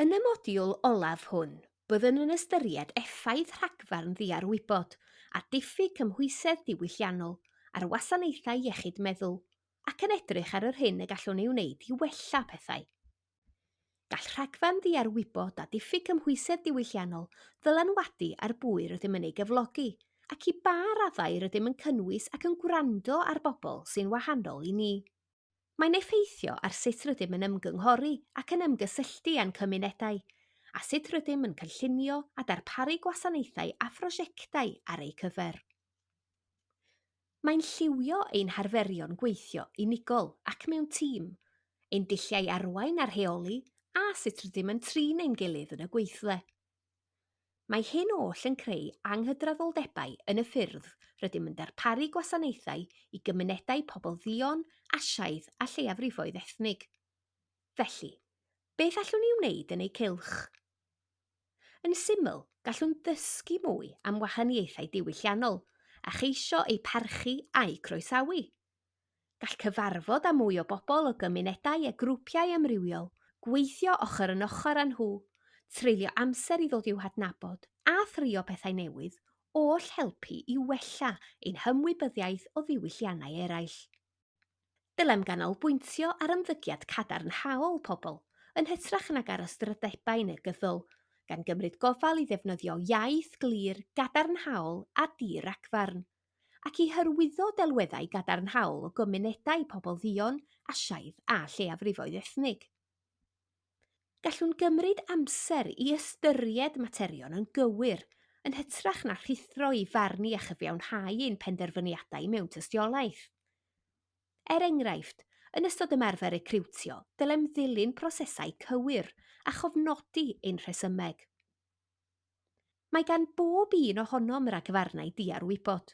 Yn y modiwl olaf hwn, byddwn yn ystyried effaith rhagfarn ddiarwybod a diffyg cymhwysedd diwylliannol ar wasanaethau iechyd meddwl ac yn edrych ar yr hyn y gallwn ei wneud i wella pethau. Gall rhagfarn ddiarwybod a diffyg cymhwysedd diwylliannol ddylanwadu ar bwy rydym yn ei gyflogi ac i ba raddau rydym yn cynnwys ac yn gwrando ar bobl sy'n wahanol i ni. Mae'n effeithio ar sut rydym yn ymgynghori ac yn ymgysylltu â'n cymunedau, a sut rydym yn cynllunio a darparu gwasanaethau a phrosiectau ar eu cyfer. Mae'n lliwio ein harferion gweithio unigol ac mewn tîm, ein dulliau arwain a rheoli, a sut rydym yn trin ein gilydd yn y gweithle. Mae hyn oll yn creu anghydraddoldebau yn y ffyrdd rydym yn darparu gwasanaethau i gymunedau pobl dduon, Asiaidd a lleiafrifoedd ethnig. Felly, beth allwn ni wneud yn eu cylch? Yn syml, gallwn ddysgu mwy am wahaniaethau diwylliannol a cheisio eu parchu a'u croesawu. Gall cyfarfod â mwy o bobl o gymunedau a grwpiau amrywiol, gweithio ochr yn ochr â nhw, treulio amser i ddod i'w hadnabod, a thrio pethau newydd, oll helpu i wella ein hymwybyddiaeth o ddiwylliannau eraill. Dylem ganolbwyntio ar ymddygiad cadarnhaol pobl yn hytrach nag ar ystrydebau negyddol, gan gymryd gofal i ddefnyddio iaith glir, gadarnhaol a di-ragfarn. ac i hyrwyddo delweddau gadarnhaol o gymunedau pobl dduon, Asiaidd a lleiafrifoedd ethnig. Gallwn gymryd amser i ystyried materion yn gywir, yn hytrach na rhuthro i farn ni a chyfiawnhau ein penderfyniadau mewn tystiolaeth. Er enghraifft, yn ystod ymarfer recriwtio, dylem ddilyn prosesau cywir a chofnodi ein rhesymeg. Mae gan bob un ohonom ragfarnau diarwybod.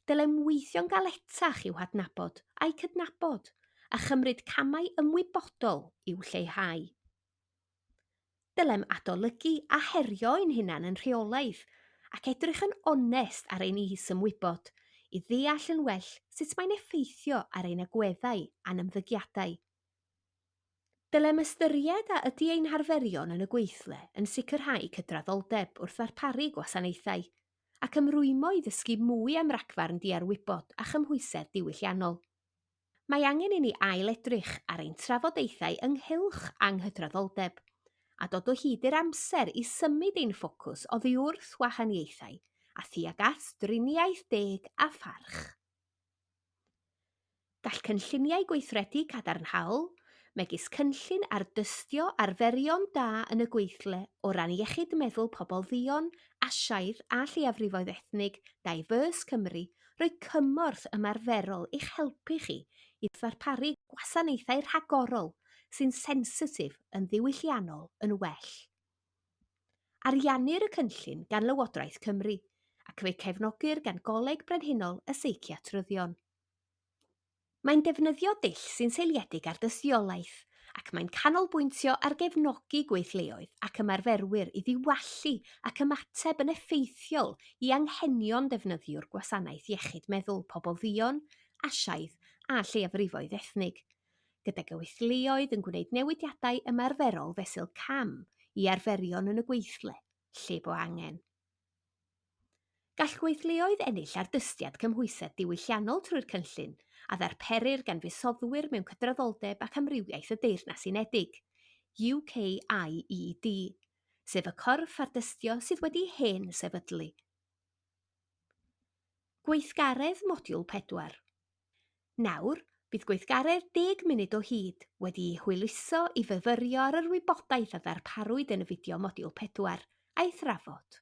Dylem weithio'n galetach i'w hadnabod a'u cydnabod, a chymryd camau ymwybodol i'w lleihau. Dylem adolygu a herio ein hunain yn rheolaidd, ac edrych yn onest ar ein is-ymwybod i ddeall yn well sut mae'n effeithio ar ein agweddau a'n ymddygiadau. Dylem ystyried a ydy ein harferion yn y gweithle yn sicrhau cydraddoldeb wrth ddarparu gwasanaethau, ac ymrwymo i ddysgu mwy am ragfarn diarwybod a chymhwysedd diwylliannol. Mae angen i ni ail-edrych ar ein trafodaethau ynghylch anghydraddoldeb, a dod o hyd i'r amser i symud ein ffocws oddi wrth wahaniaethau a thuag at driniaeth deg a pharch. Gall cynlluniau gweithredu cadarnhaol, megis cynllun ardystio arferion da yn y gweithle o ran iechyd meddwl pobl dduon, Asiaidd a lleiafrifoedd ethnig, Diverse Cymru, roi cymorth ymarferol i'ch helpu chi i ddarparu gwasanaethau rhagorol sy'n sensitif yn ddiwylliannol yn well. Ariannir y cynllun gan Lywodraeth Cymru ac fe'i cefnogir gan Goleg Brenhinol y Seiciatryddion. Mae'n defnyddio dull sy'n seiliedig ar dystiolaeth ac mae'n canolbwyntio ar gefnogi gweithleoedd ac ymarferwyr i ddiwallu ac ymateb yn effeithiol i anghenion defnyddiwr gwasanaeth iechyd meddwl pobl dduon, Asiaidd a lleiafrifoedd ethnig, gyda gweithleoedd yn gwneud newidiadau ymarferol fesul cam i arferion yn y gweithle, lle bo angen. Gall gweithleoedd ennill ardystiad cymhwysedd diwylliannol trwy'r cynllun a ddarperir gan fusoddwyr mewn cydraddoldeb ac amrywiaeth y Deyrnas Unedig, UKIED, sef y corff ardystio sydd wedi hen sefydlu. Gweithgaredd modiwl pedwar. Nawr, bydd gweithgaredd deg munud o hyd wedi'i hwyluso i fyfyrio ar yr wybodaeth a ddarparwyd yn y fideo modiwl pedwar, a'i thrafod.